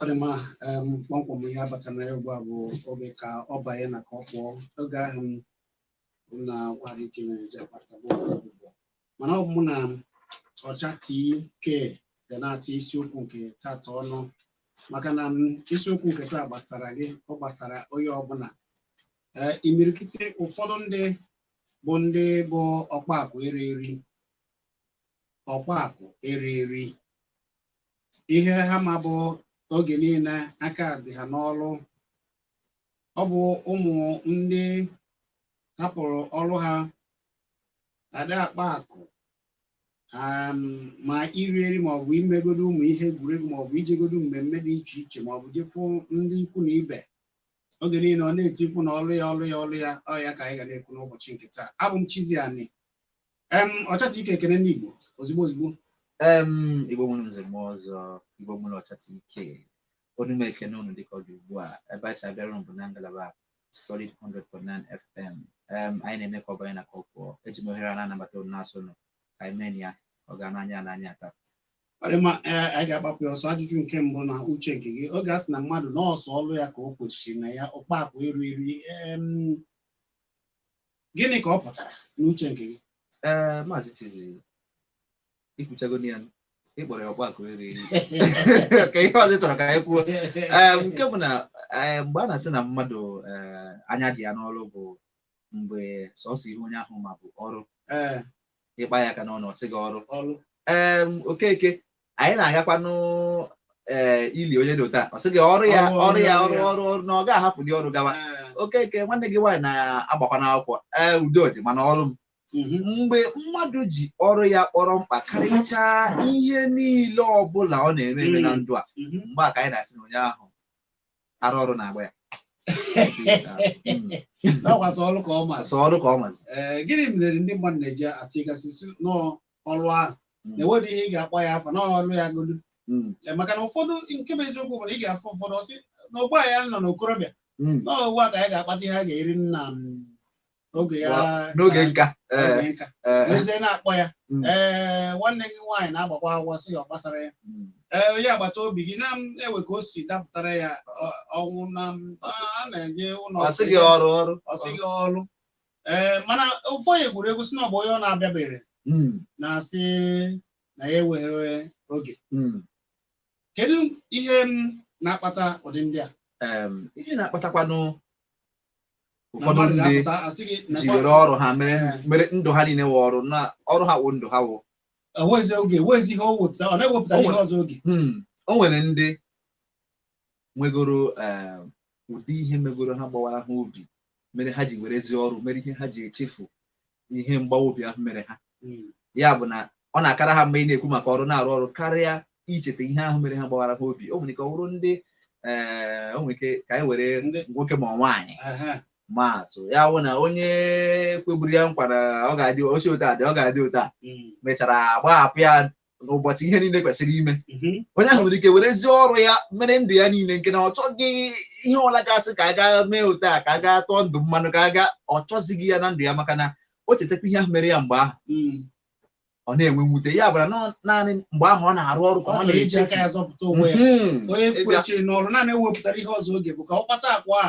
ọ dị mma em, kpọmkwem ihe abata na ya ugbu a bụ oge ka ọ banye na ka ọ pụọ oge ahụ m na nwaanyị ji nwere ji akparịta ụbụbọ mana ọ bụ mụ na ọcha TK ga na-atụ isiokwu nke tata ọnụ maka na m isiokwu nke taa gbasara gị ọ gbasara onye ọbụla ee imirikiti ụfọdụ ndị bụ ndị bụ ọkpa akụ eri eri ọkpa akụ eri eri ihe ha ma bụ oge niile aka dị ha n'ọrụ ọ bụ ụmụ ndị hapụrụ ọrụ ha ada akpa akụ um, ma iri eri maọbụ imegodo ụmụ ihe egwuregwu maọbụ ijegodo mmemme dị iche iche maọbụ jefụ ndị ikwu na ibe oge niile ọ na-eti mkpu na ọrụ ya ọrụ ya ọrụ ya ọ ya ka anyị ga na-ekwu n'ụbọchị nke taa abụ m Chizzy Ani em ọcha TK ekene ndị Igbo ozugbo ozugbo em igbo nwere nze na ọzọ igbo nwere ọcha TK onu m ekene unu dịka ọ dị ugbu a ebe anyị si abịara unu bụ na ngalaba Solid 100.9 FM um, anyị na-eme ka ọ banye na ka ọ pụọ eji m ohere a na-anabata unu na-asị unu ka anyị mee ya ọ ga n'anya n'anya taa ọ dị mma ee anyị ga-agbapụ ya ọsọ ajụjụ nke mbụ na uche nke gị oge a sị na mmadụ na ọ sọ ọrụ ya ka o kwesịrị na ya ọkpa akụ eri eri em, gịnị ka ọ pụtara n'uche nke gị ee maazị Chizzy i kwuchagonụ ya ị kpọrọ ya ọkpa akụ eri eri kee ihe ọzọ ị chọrọ ka anyị kwuo Ee, nke bụ na ee, mgbe a na-asị na mmadụ ee, anya dị ya n'ọrụ bụ mgbe sọsọ ihe onye ahụ ma bụ ọrụ Ee, ị kpa ya aka n'ọnụ ọ sị gị ọrụ ọrụ ee okeke anyị na-agakwanụ ee ili onye dị otu a ọ sị gị ọrụ ya Ọrụ, ọrụ ya ọrụ ọrụ ya. ọrụ ọrụ na ọ ga-ahapụdị ọrụ gawa Ee, okeke nwanne gị nwaanyị na-agbakwanụ akwụkwọ ee udo dị mana ọrụ m mgbe mmadụ ji ọrụ ya kpọrọ mkpa karịchaa ihe niile ọbụla ọ na-eme eme na ndụ a mgbe a ka anyị na-asị na onye ahụ ara ọrụ na-agba ya Na ọ sọ ọrụ ka ọ mazi. sọ ọrụ ka ọ mazi Ee, gịnị mere ndị mmadụ na-eji atịgasị si n'ọrụ ahụ na-enwere ihe ị ga-akpọ ya afa na ọ ọrụ ya godu Mm, Ee, maka na ụfọdụ nke bụ eziokwu bụ na ị ga-afụ ụfọdụ ọ sị na ugbu a ya nọ n'okorobịa mm, na ọ ugbu a ka anyị ga-akpata ihe a ga-eri nna m n'oge ya n'oge nka ee n'oge nka ee n'ezie na-akpọ ya Mm. ee nwanne gị nwaanyị na-agbakwa akwụkwọ sị ya ọ gbasara ya Mm. ee onye agbata obi gị na-ewe ka o si dapụtara ya ọ- ọnwụ na m- Ọ sị- a na-eje ụlọ ọ sị gị ọrụ ọrụ ọ sị gị ọrụ ee mana ụfọdụ gwuru egwu sị na ọ bụ onye ọ na-abịabere Mm, na-asị na ya enweghị oge mm. kedu ihe m na-akpata ụdị ndị a Em, ihe na-akpatakwanụ ụfọdụ ndị ji were ọrụ ha mere mere ndụ ha niile wụ ọrụ na ọrụ ha wụ ndụ ha wụ enwezi oge enwezi ihe o wepụta ọ na-ewepụta O ihe nwere- ọzọ oge Hmm, o nwere ndị nwegoro eh, ụdị ihe megoro ha gbawara ha obi mere ha ji werezi ọrụ mere ihe ha ji echefu ihe mgbawa obi ahụ mere ha hmm. ya bụ na ọ na-akara ha mma ịna-ekwu maka ọrụ na-arụ ọrụ karịa icheta ihe ahụ mere ha gbawara ha obi o nwere ike ọ bụrụ ndị eh, o nwere ike ka anyị were nwoke ma nwaanyị maa atụ ya bụ na onye kweburu ya nkwa na ọ ga-adị o si otu a dị ọ ga-adị otu a hmm. mechara gbahapụ ya n'ụbọchị ihe niile kwesịrị ime mhm. onye ahụ nwere ike werezi ọrụ ya mere ndụ ya niile nke na ọ chọghị ihe ọbụla ga-asị ka a gaa mee otu a ka a gaa tụọ ndụ mmanụ ka a gaa ọ chọzighị ya na ndụ ya maka na o chetakwa ihe ahụ mere ya mgbe ahụ mm. ọ na-enwe mwute ya bụrụ naanị mgbe ahụ ọ na-arụ ọrụ ka ọ na-eji aka ya zọpụta onwe ya mhm. onye kwechiri n'ọrụ naanị ewepụtara ihe ọzọ oge bụ ka ọ kpata akwa a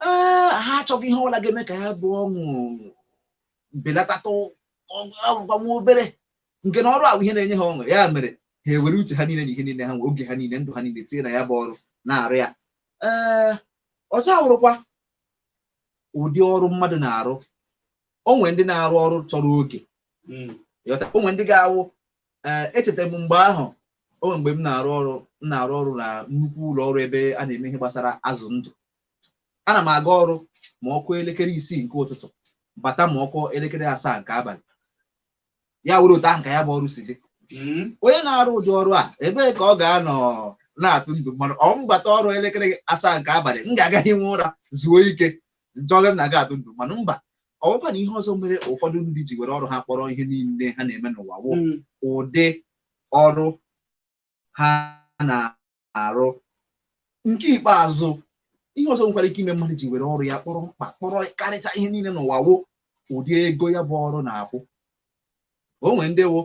Ah, ha achọghị ihe ọbụla ga-eme ka ya bụ ọṅụ belatatụ ọ wụrụkwa nwa obere nke na ọrụ a wụ ihe na-enye ha ọṅụ ya mere ha ewere uche ha niile na ihe niile ha nwe oge ha niile ndụ ha niile tinye na ya bụ ọrụ na-arụ ya ee ọzọ awụrụkwa ụdị ọrụ mmadụ na-arụ o nwere ndị na-arụ ọrụ chọrọ oge Mm. ị ghọta o nwere ndị ga-awụ ee echeta m mgbe ahụ o nwere mgbe m na-arụ ọrụ m na-arụ ọrụ na nnukwu ụlọ ọrụ ebe a na-eme ihe gbasara azụ ndụ ana m aga ọrụ ma ọ kụọ elekere isii nke ụtụtụ bata ma ọ kụọ elekere asaa nke abalị ya wụrụ otu ahụ ka ya bụ ọrụ si dị hmm. onye na-arụ ụdị ọrụ a ebee ka ọ ga-anọ na-atụ ndụ mmanụ ọ m bata ọrụ elekere asaa nke abalị m ga-aga hiwe ụra zuo ike m chọbe m na-aga atụ ndụ mmanụ mba ọ wụkwa na ihe ọzọ mere ụfọdụ ndị ji were ọrụ ha kpọrọ ihe niile ha na-eme n'ụwa wụ hmm. ụdị ọrụ ha na arụ nke ikpeazụ ihe ọzọ nwekwara ike ime mmadụ ji were ọrụ ya kpọrọ mkpa kpọrọ karịcha ihe niile n'ụwa wụ ụdị ego ya bụ ọrụ na-akwụ o nwere ndị wụ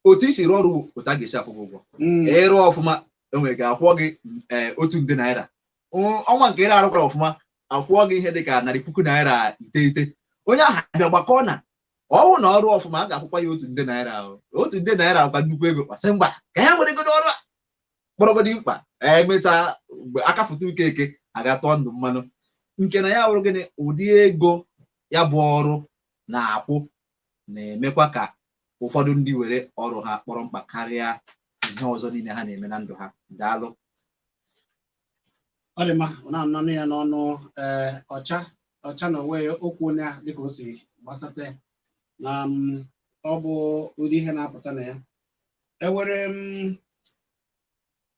otu i si rụọ ọrụ otu a ga-esi akwụ gị ụgwọ Mm. ị rụọ ọfụma e nwere ike akwụọ gị ee, otu nde naira Ọ- ọnwa nke ị na-arụkwara ọfụma akwụọ gị ihe dị ka narị puku naira iteghete onye ahụ abịa gbakọ na ọ wụ na ọ rụọ ọfụma a ga-akwụkwa ya otu nde naira ahụ. otu nde naira bụkwa nnukwu ego gbasie mgba ka ya weregodo ọrụ a kpọrọgodi mkpa e mechaa mgbe aka foto uke eke aga tụọ ndụ mmanụ nke na ya wụrụ gịnị ụdị ego ya bụ ọrụ na-akwụ na-emekwa ka ụfọdụ ndị were ọrụ ha kpọrọ mkpa karịa ihe ọzọ niile ha na-eme na ndụ ha daalụ ọ dị mma ọ na-ananụ ya n'ọnụ ee ọcha ọcha na onwe ya okwu onye a dịka o si gbasata ya na m, ọ bụ ụdị ihe na-apụta na ya enwere m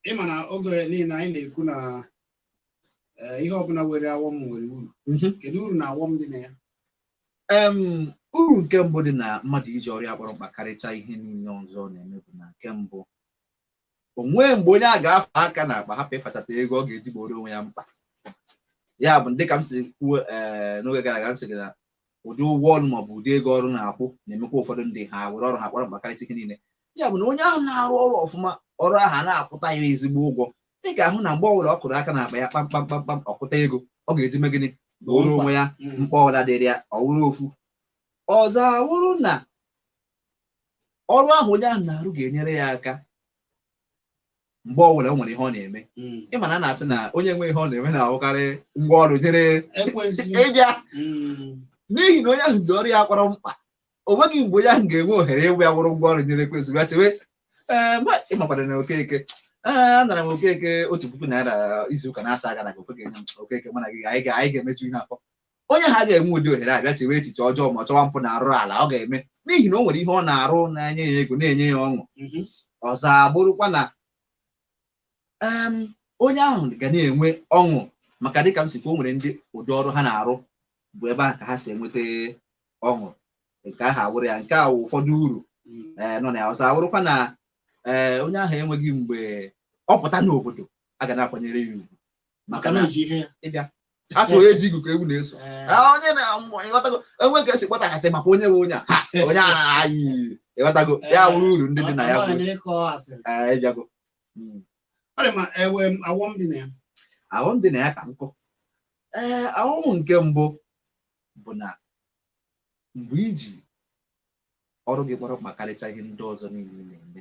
ị ma na oge niile anyị na-ekwu na eh, ihe ọbụla nwere awọm nwere uru Mhm. kedu uru na awọm dị na ya Em, uru nke mbụ dị na mmadụ iji ọrụ ya kpọrọ mkpa karịcha ihe niile ọzọ ọ na-eme bụ na nke mbụ o nwee mgbe onye a ga-afa aka na akpa hapụ ịfachata ego ọ ga-eji gbooro onwe ya mkpa ya bụ dịka m si kwuo ee n'oge gara aga m sị gị na ụdị ụgwọ ọrụ maọbụ ụdị ego ọrụ na-akwụ na-emekwa ụfọdụ ndị ha were ọrụ ha kpọrọ mkpa karịcha ihe niile ya bụ na onye ahụ na-arụ ọrụ ọfụma ọrụ ahụ na-akwụta ya ezigbo ụgwọ ị ga-ahụ na mgbe ọbụla ọ kụrụ aka n'akpa ya kpamkpam kpamkpam ọ kụta ego ọ ga-eji mee gịnị gbooro onwe ya mm. mkpa ọbụla dịrị ya ọ wụrụ ofu ọzọ awụrụ na ọrụ ahụ onye ahụ na-arụ ga-enyere ya aka mgbe ọ bụla o nwere ihe ọ na-eme Mm. ị ma na a na-asị na onye enweghị ihe ọ na-eme na-awụkarị ngwa ọrụ nyere Ekwensu. ịbịa Mm. n'ihi na onye ahụ ji ọrụ ya kpọrọ mkpa o nweghị mgbe onye ahụ ga-enwe ohere ịwụ ya wụrụ ngwa ọrụ nyere Ekwensu bịa chewe "Ee, mgbe ị makwara na Okeke ee anara m Okeke otu puku naira izu ụka asaa gara aga Okeke nye m Okeke mụ na gị anyị ga- anyị ga-emeju ihe akpọ onye ahụ aga-enwe ụdị ohere a bịa chewe echiche ọjọọ maọbụ chọwa mpụ na arụrụala ọ ga-eme n'ihi na o nwere ihe ọ na-arụ na-enye ya ego na-enye ya ọṅụ mhm. ọzọ abụrụkwa na onye ahụ ga na-enwe ọṅụ maka dịka m si kaa o nwere ndị ụdị ọrụ ha na-arụ bụ ebe ahụ ka ha si enweta ọṅụ nke ahụ awụrụ ya nke a wụ ụfọdụ uru mm. eh, nọ na ya ọzọ awụrụkwa na eh, onye ahụ enweghị mgbe ọ pụta n'obodo a ga na-akwanyere ya ugwu maka na ịbịa a sị onye ji igu ka ewu na-eso Eh, Ah, onye na mmụọ ịghọtago enwe ka e si kpọta a sị makwa onye bụ onye a Ha, onye a na-ayị ịghọtago ya wụrụ uru ndị dị na ya amaghị bụ na ịkọ asịrị eh, ịbịago Mm. ọ dị ma ewe m awọm dị na ya awọm dị na ya ka nkụ ee awọm nke mbụ bụ na mgbe i ji ọrụ gị kpọrọ mkpa karịcha ihe ndị ọzọ niile ị na-eme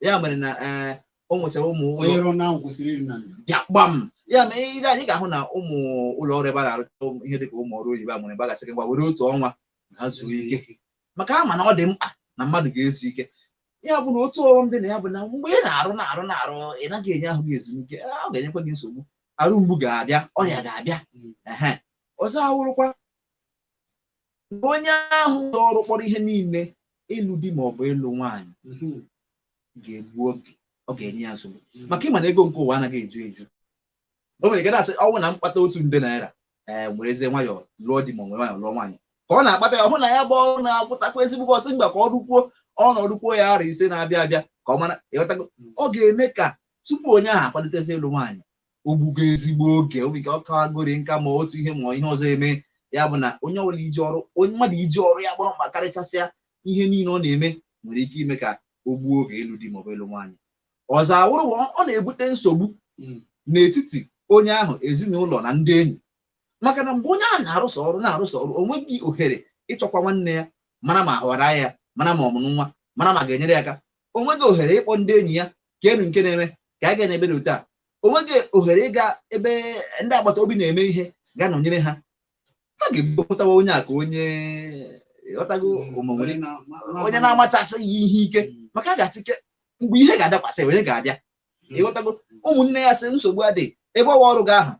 ya mere na eh, o nwechara ụmụ ụlọ onye rụọ na ahụ kwụsịrị iri na ndụ ya gbam ya mere i lee anya ị ga-ahụ na ụmụ ụlọ ọrụ ebe a na-arụta ụmụ- ihe dịka ụmụ ọrụ oyibo e nwere ebe a ga-asị gị ngwa were otu ọnwa a zuo ike maka a ma na ọ dị mkpa na mmadụ ga-ezu ike ya bụ na otu ọghọm dị na ya bụ na mgbe ị na-arụ na-arụ na-arụ ị naghị enye ahụ gị ezumike ọ ga-enyekwa gị nsogbu arụ mgbu ga-abịa ọrịa ga-abịa ehe ọzọ awụrụkwa na onye ahụ ji ọrụ kpọrọ ihe niile ịlụ di ma ọ bụ ịlụ nwaanyị ga-egbu oge ọ ga-enye ya nsogbu maka ị ma na ego nke ụwa anaghị eju eju o nwere ike na-asị ọ wụrụ na m kpata otu nde naira ee werezie nwayọọ lụọ di ma ọ were nwayọọ lụọ nwaanyị ka ọ na-akpata ya ọ hụ na ya bụ ọrụ na-akwụtakwa ezigbo ọ sị mba ka ọ rụkwuo ọ nọrọkwuo ya arọ ise na-abịa abịa ka ọ mara ịghọtago ọ ga-eme ka tupu onye ahụ akwalitezi ịlụ nwaanyị o gbugo ezigbo oge obi ka ọ kawagori nka ma otu ihe ma ihe ọzọ eme ya bụ na onye ọbụla iji ọrụ onye mmadụ iji ọrụ ya kpọrọ mkpa karịchasịa ihe niile ọ na-eme nwere ike ime ka o gbuo oge ịlụ di maọbụ ịlụ nwaanyị ọzọ awụrụ bụ ọ na-ebute nsogbu Mm. n'etiti onye ahụ ezinụlọ na ndị enyi maka na mgbe onye ahụ na-arụsọ ọrụ na-arụsọ ọrụ o nweghị ohere ịchọkwa nwanne ya mara ma ahọra ya mara ma ọ mụrụ nwa mara ma ga-enyere ya aka o nweghị ohere ịkpọ ndị enyi ya kee nụ nke na-eme ka a gaa n'ebe dị otu a o nweghị ohere ịga ebe ndị agbata obi na-eme ihe gaa nọnyere ha ha ga-ebupụtawa onye a ka onye ịghọtago onye na-amachasị ya ihe ike maka a ga-asị kee mgbe ihe ga-adakwasị onye ga-abịa ịghọtago ụmụnne ya sị nsogbu adịghị ebe ọ wụ ọrụ gị ahụ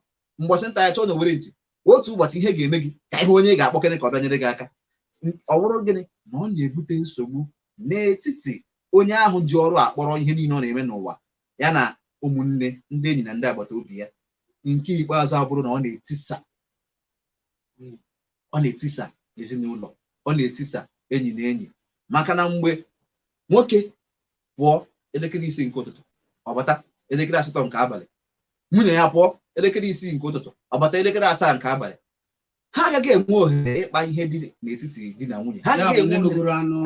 mbọsị nta ka a chụọ n'owere nchi otu ụbọchị ihe ga-eme gị ka ị hụ onye ị ga-akpọkere ka ọ bịa nyere gị aka ọ bụrụ gịnị na ọ na-ebute nsogbu n'etiti onye ahụ ji ọrụ akpọrọ ihe niile ọ na-eme n'ụwa ya na ụmụnne ndị enyi na ndị agbata obi ya nke ikpeazụ abụrụ na ọ na-etisa ọ na-etisa ezinụlọ ọ na-etisa enyi na enyi maka na mgbe nwoke pụọ elekere isii nke ụtụtụ ọ bata elekere asatọ nke abalị nwunye ya pụọ elekere isii nke ụtụtụ ọ bata elekere asaa nke abalị ha agaghị enwe ohere ịkpa ihe dị n'etiti di na nwunye ha agaghị enwe nnọkọrọ ọnụ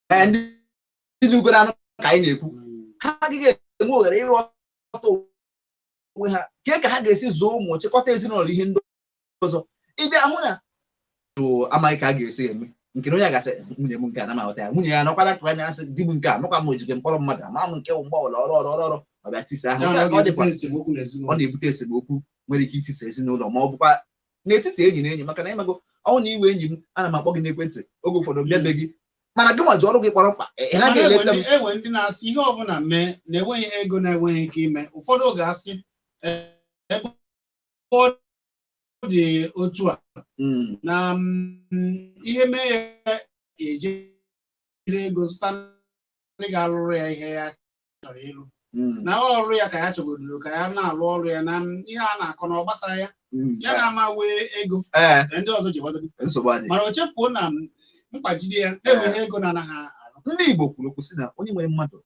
ka anyị na-ekwu hmm. ha agaghị enwe ohere ịghọta onwe ha kee ka ha ga-esi zụọ ụmụ chịkọta ezinụlọ ihe ndị ọzọ ị bịa hụ na amaghị ka a ga-esi eme nke na onye ga-asị nwunye m nke a anaghị m ahụta ya nwunye ya nọkwara ka anya asị di m nke a nọkwa m o jikwe m kpọrọ mmadụ ama m nke wụ mgbe ọbụla ọrụ ọrụ ọrụ ọrụ ọ bịa tisa ahụ Nke a ka ọ dịkwa ọ na-ebute esemokwu nwere ike itisa ezinụlọ ma ọ bụkwa n'etiti enyi na enyi maka na ị mago ọ wụrụ na ị wụ enyi m ana m akpọ gị n'ekwentị oge ụfọdụ bịa be gị mana gị nwa ji ọrụ gị kpọrọ mkpa ị ị naghị eleta m e nwee ndị na-asị ihe ọbụla mee na enweghị ihe ego na-enweghị ike ime ụfọdụ oge asị "Ee, ebe dị otu a hmm. na mm, ihe mee ya ejiri ego zụta ndị ga-alụrụ ya ihe ya chọrọ ịlụ hmm. na ọrụ ya ka ya chọgodoro ka ya na-alụ ọrụ ya na mm, ihe a na-akọ na ọ gbasa ya hmm. ya na-ama nwee ego eh. ndị ọzọ ji gbado mana o chefuo na mkpa jide ya e nwere ihe ego na-anaghị arụ ndị Igbo kwuru okwu sị na onye nwere mmadụ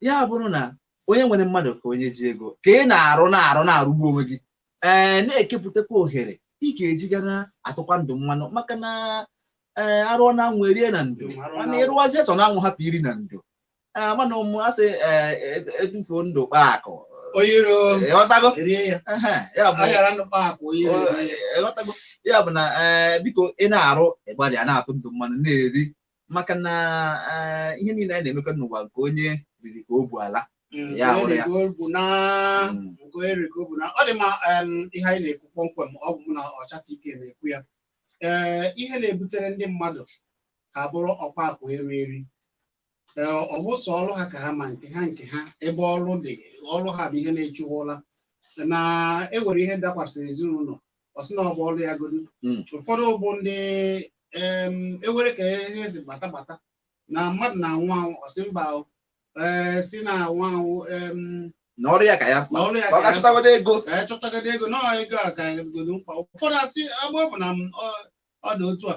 ya bụrụ na onye nwere mmadụ ka onye ji ego ka ị na-arụ na-arụ na-arụgbu onwe gị ee na-ekepụtakwa ohere ị ga-eji ga na-atụkwa ndụ mmanụ maka na ee arụọ na anwụ erie na ndo mana ịrụwazie sọ na anwụ hapụ iri na ndo ee mana ụmụ asị ee ed- edufuo ndụ kpaa akụ onye iro ịghọtago rie ya Ehe, ya bụ aghara ndụ kpaa akụ onye iro rie ya. ịghọtago ya bụ na ee biko ị na-arụ ịgbalịa na-atụ ndụ mmanụ na-eri maka na eh, ihe niile anyị na-emekọ n'ụwa nke onye riri ka o bu ala Mm, Ya nke hụrụ ya. erigo bụ na Mm. nke erigo bụ na ọ dị mma em, ihe anyị na-ekwu kpọmkwem ọ bụ mụ na ọchata ike na-ekwu ya ee ihe na-ebutere ndị mmadụ ka ha bụrụ ọkpa akụ eri eri ee ọ bụ sọ ọrụ ha ka ha ma nke ha nke ha ebe ọrụ dị ọrụ ha bụ ihe na-echu ha ụla na enwere ihe dakwasịrị ezinụlọ ọ sị na ọ bụ ọrụ ya godu Mm. ụfọdụ bụ ndị em, ewere ka ihe asị gbata gbata na mmadụ na-anwụ anwụ ọ sị mba o, ee, si na-anwụ anwụ em, na ọrụ ya ka ya na ọrụ ya ka ọ ka ya ga-achọtagodo ego ka anyị chọtagide ego na ego a ka anyị godo mkpa ụfọdụ asị agba bụ na m, ọ- ọ dị otu a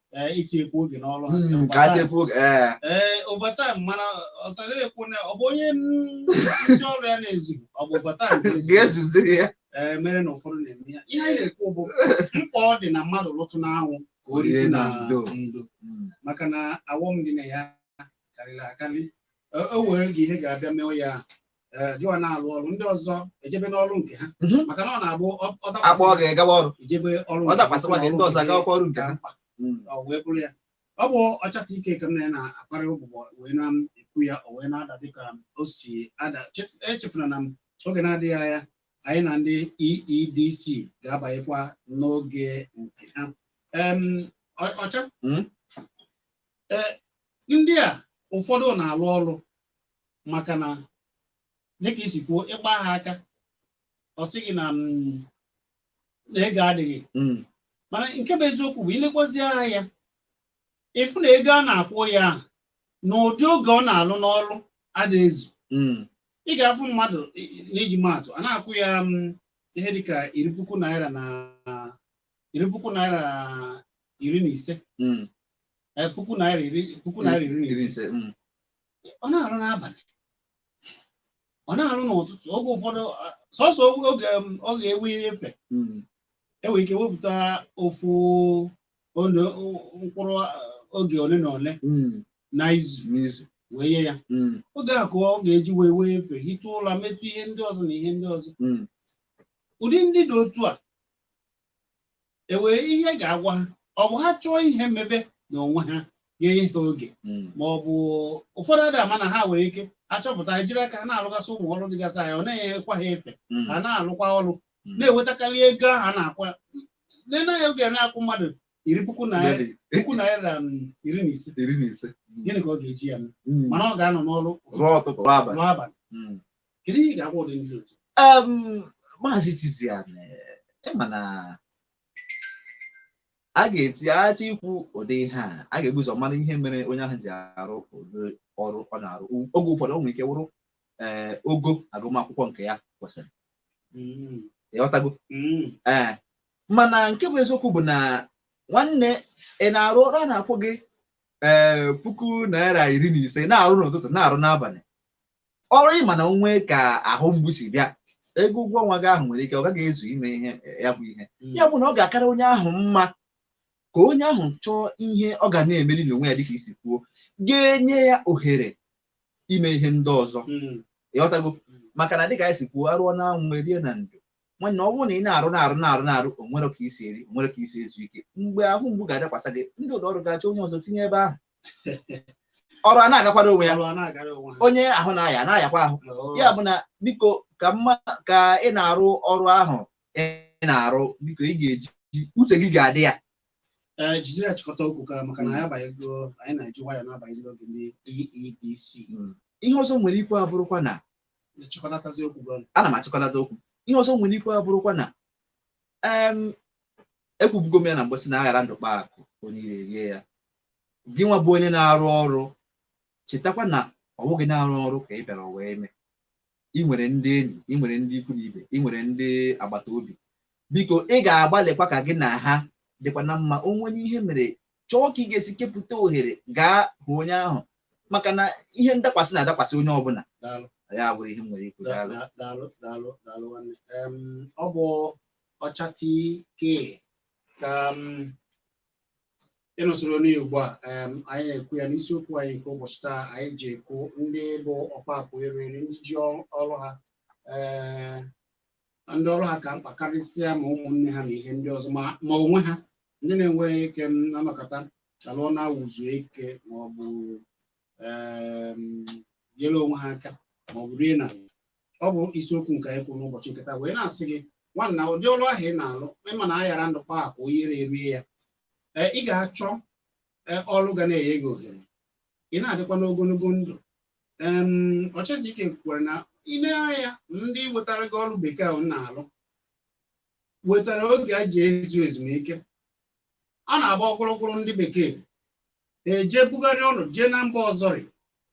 eh, itinyekwu oge n'ọrụ ha. Mm, ka a chekwa oge ee Ee, overtime mana ọsadebe kwuo na ọ bụ onye n- isi ọrụ ya na-ezu ọ bụ overtime na-ezu. ga-ezuziri ya Ee, mere na ụfọdụ na-eme ya ihe anyị na-ekwu bụ mkpa ọ dị na mmadụ lụtụ n'anwụ ka o rite na ndo ndo Mm. maka na awọm dị na ya karịrị akarị Ee, o nwere ike ihe ga-abịa mewe ya eh, gịwa na-alụ ọrụ ndị ọzọ ejebe n'ọrụ nke ha Mhm. maka na ọ na-abụ ọ- ọ dakwasị akpọ gị gawa ọrụ ijebe ọrụ ọ nke dakwasịkwa gị ndị ọzọ agawakwa ọrụ nke ha mkpa ọ wee bụrụ ya ọ bụ ọchata ike ka m na ya na-akparị ụbụbọ wee na-ekwu ya o wee na-ada dịka o si ada Chef- echefuna na n'oge na-adịghị anya anyị na ndị EEDC ga-abanyekwa n'oge nke ha Em, ọ- ọcha Mm. Eh, ndị a ụfọdụ na-alụ ọrụ maka na dịka i si kwuo ịgba ha aka ọ sị gị na mm, na ego adịghị Mm. mana nke bụ eziokwu bụ ilekwazi anya ị fụ na ego a na-akwụ ya ahụ na ụdị oge ọ na-alụ n'ọrụ adịghị ezu Mm. ị ga-afụ mmadụ i- i- n'iji maa atụ a na-akwụ ya mm, ihe dịka iri puku naira na iri puku naira iri na ise Mm. eh, puku naira iri puku naira iri na Iri ise ise. Mm. ọ na-arụ n'abalị ọ na-arụ n'ụtụtụ oge ụfọdụ ah, sọsọ oge um, ọ ga-ewe efe Mm. enwere ike wepụta ofu ole mkpụrụ ah, oge ole na ole Mm. na izu N'izu. wee nye ya Mm. oge a ka ọ ga-eji wee wee efe hitụ ụla metụ ihe ndị ọzọ na ihe ndị ọzọ Mm. ụdị ndị dị otu a e nwee ihe ga-agwa ha ọ bụ ha chọọ ihe mebe na onwe ha ga-enye ha oge Mm. ma ọ bụ ụfọdụ ada ama na ha nwere ike achọpụta jiri aka ha na-alụgasị ụmụ ọrụ dịgasị anya ọ na-enyekwa ha efe Mm. ha na-alụkwa ọrụ Mm. na-enwetakarị ego ahụ a na-akwụ nene ya oge na-akwụ mmadụ iri puku naira Lady, puku naira um, iri na ise iri na ise gịnị ka ọ ga-eji ya mee Mm. mana ọ ga-anọ n'ọrụ rụọ ụtụtụ rụọ abalị rụọ abalị Mm. kedu ihe ị ga-agwa ụdị ndị otu um, maazị Tizian ịma na a ga-eti aja ikwu ụdị ihe a a ga-ebu ụzọ mara ihe mere onye ahụ ji arụ ụdị ọrụ ọ na-arụ U- oge ụfọdụ o nwere ike wụrụ ee ogo agụmakwụkwọ nke ya kwesịrị Mm, ịghọtago mm, ee mana nke bụ eziokwu bụ na nwanne ị na-arụ ọrụ a na-akwụ gị ee puku naira iri na ise na-arụ n'ụtụtụ na-arụ n'abalị ọrụ ịma na o nwee ka ahụ mgbu si bịa ego ụgwọ ọnwa gị ahụ nwere ike ọ gaghị ezu ime ihe ya bụ ihe ya bụ na ọ ga-akara onye ahụ mma ka onye ahụ chọọ ihe ọ ga na-emeri n'onwe ya dịka i si kwuo ga-enye ya ohere ime ihe ndị ọzọ ịghọtago maka na dịka anyị si kwuo arụọ na anwụ erie na ndo nwanne ọ bụrụ na ị na-arụ na-arụ na-arụ na-arụ o nwere ka i si eri o nwere ka i si ezu ike mgbe ahụ mgbu ga-adakwasa gị ndị ụlọ ọrụ ga-achọ onye ọzọ tinye ebe ahụ ọrụ a na-agakwara onwe ya Ọrụ a na-agara onwe ha. onye ahụ na-aya na-ayakwa ahụ Oo. ya bụ na biko ka mma ka ị na-arụ ọrụ ahụ ị na-arụ biko ị ga-eji uche gị ga-adị ya Ee, jidere ya chịkọta okwu ka maka na anyị abanyego anyị na-eji nwayọ na-abanyezi n'oge ndị EEDC ihe ọzọ m nwere ikwu abụrụkwa na na-achịkọnatazi okwu gị ọnụ. ana m achịkọnata okwu ihe ọzọ m nwere ikwu abụrụkwa na em ekwubugo m ya na mgbe m sị na aghara ndụ kpaa akụ onye iro erie ya gị nwa bụ onye na-arụ ọrụ chetakwa na ọ bụghị na-arụ ọrụ ka ị bịara ụwa ime ị nwere ndị enyi ị nwere ndị ikwu na ibe ị nwere ndị agbata obi biko ị ga-agbalịkwa ka gị na ha dịkwa na mma o nwee onye ihe mere chọọ ka ị ga-esi kepụta ohere gaa hụ onye ahụ maka na ihe ndakwasị na-adakwasị onye ọbụla Daalụ. ya bụrụ ihe m nwere ikwu Da- daalụ. da- daalụ daalụ daalụ nwanne Em, ọ bụ Ọcha TK ka ị na-esoro anyị ugbu a em, anyị na-ekwu ya n'isiokwu anyị nke ụbọchị taa anyị ji ekwu ndị bụ ọkpa akụ eri eri ndị ji ọrụ ọrụ ha ee, na ndị ọrụ ha ka mkpa karịsịa ma ụmụnne ha na ihe ndị ọzọ ma ma onwe ha ndị na-enweghị ike na-anọkọta alụọ ma ọ wụ zuo ike ma ọ bụ em, nyere onwe ha aka ma ọ bụ rie na ọ bụ isiokwu nke anyị kwuru n'ụbọchị nke taa wee na-asị gị nwanna ụdị ọrụ ahụ ị na-alụ ịma na aghara ndụ kpaa akụ onye iro erie ya ee ị ga-achọ ee, ọrụ ga na-enye gị ohere ị na-adịkwa n'ogologo ndụ ọchịchị ike kwukwara na i lee anya ndị wetara gị ọrụ bekee ahụ na-alụ wetara oge a ji ezu ezumike a na-agba ọkpụrụkpụrụ ndị bekee eje bugharịa ọrụ jee na mba ọzọrị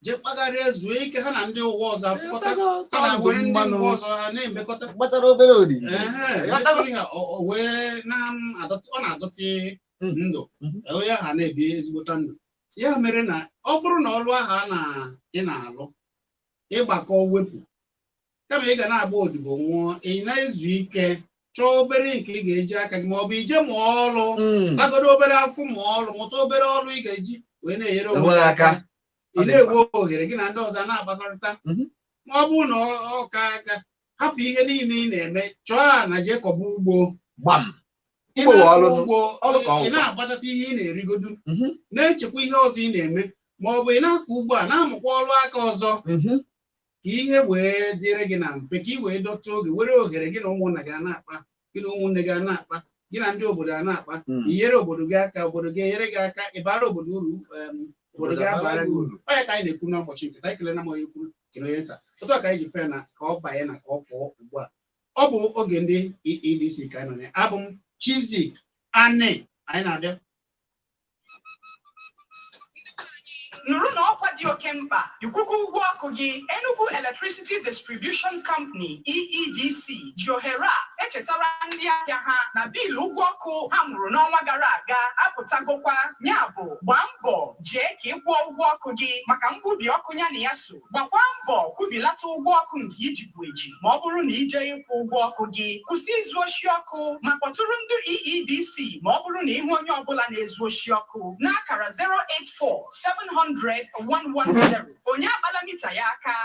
jee kpagharịa zuo ike ha na ndị ụwa ọzọ afụkọta ha na-ewere ndị mba ọzọ ha na-emekọta gbachara obere odibo Ehe, mekọrọ ihe, o- o wee na-adọtị- ọ na-adọtị ndụ onye ha na-ebi ezigbota ndụ ya mere na ọ bụrụ na ọrụ ahụ a na ị na-alụ ị gbakọọ wepụ kama ị ga na-agba odibo nwụọ ị na-ezu ike chọọ obere nke ị ga-eji aka gị ma ọ bụ i je mụọ ọrụ Mm. gbagodo obere afọ mụọ ọrụ mụta obere ọrụ ị ga-eji wee na-enyere onwe Onwe gị gị aka. aka ị na-enwe ohere gị na ndị ọzọ na-akpakọrịta Mhm. ma ọ bụrụ na ọ- ọ ka aka hapụ ihe niile ị na-eme chọọ ana jee kọba ugbo gbam Ị Ugbo na-akọ ọrụ. ugbo, Ọrụ ka ọ ị wụ. na-agbatata ihe ị na-erigodu Mhm. na-echekwa ihe ọzọ ị na-eme ma ọ bụ ị na-akọ ugbo a na-amụkwa ọrụ aka ọzọ Mhm. ka ihe wee dịrị gị na mfe ka ị wee dọta oge were ohere gị na ụmụnna gị a na-akpa gị na ụmụnne gị a na-akpa gị na ndị obodo a na-akpa Mm. inyere obodo gị aka obodo gị enyere gị aka ịbara obodo uru em, obodo gị abara gị uru ọ ya ka anyị na-ekwu n'ụbọchị nke taa ekelena m onye ukwu kele onye nta otu a ka anyị ji fee na ka ọ banye na ka ọ pụọ ugbu a ọ bụ oge ndị EEDC ka anyị nọ na ya. abụ m Chizzy Ani anyị na-abịa nụrụnụ ọkwa dị oke mkpa ị kwụgo ụgwọ ọkụ gị Enugu Electricity Distribution Company EEDC ji ohere a echetara ndị ahịa ha na biil ụgwọ ọkụ ha mụrụ n'ọnwa gara aga apụtagokwa ya bụ gbaa mbọ jee ka ị kwụọ ụgwọ ọkụ gị maka mgbubi ọkụ ya na ya so Gbakwa mbọ kwụbilata ụgwọ ọkụ nke i jibu eji ma ọ bụrụ na i jee ịkwụ ụgwọ ọkụ gị. Kwụsị izu oshi ọkụ ma kpọtụrụ ndị EEDC ma ọ bụrụ na ị hụ onye ọ bụla na-ezu oshi ọkụ n'akara 084 700 110. Onye akpala mita ya aka.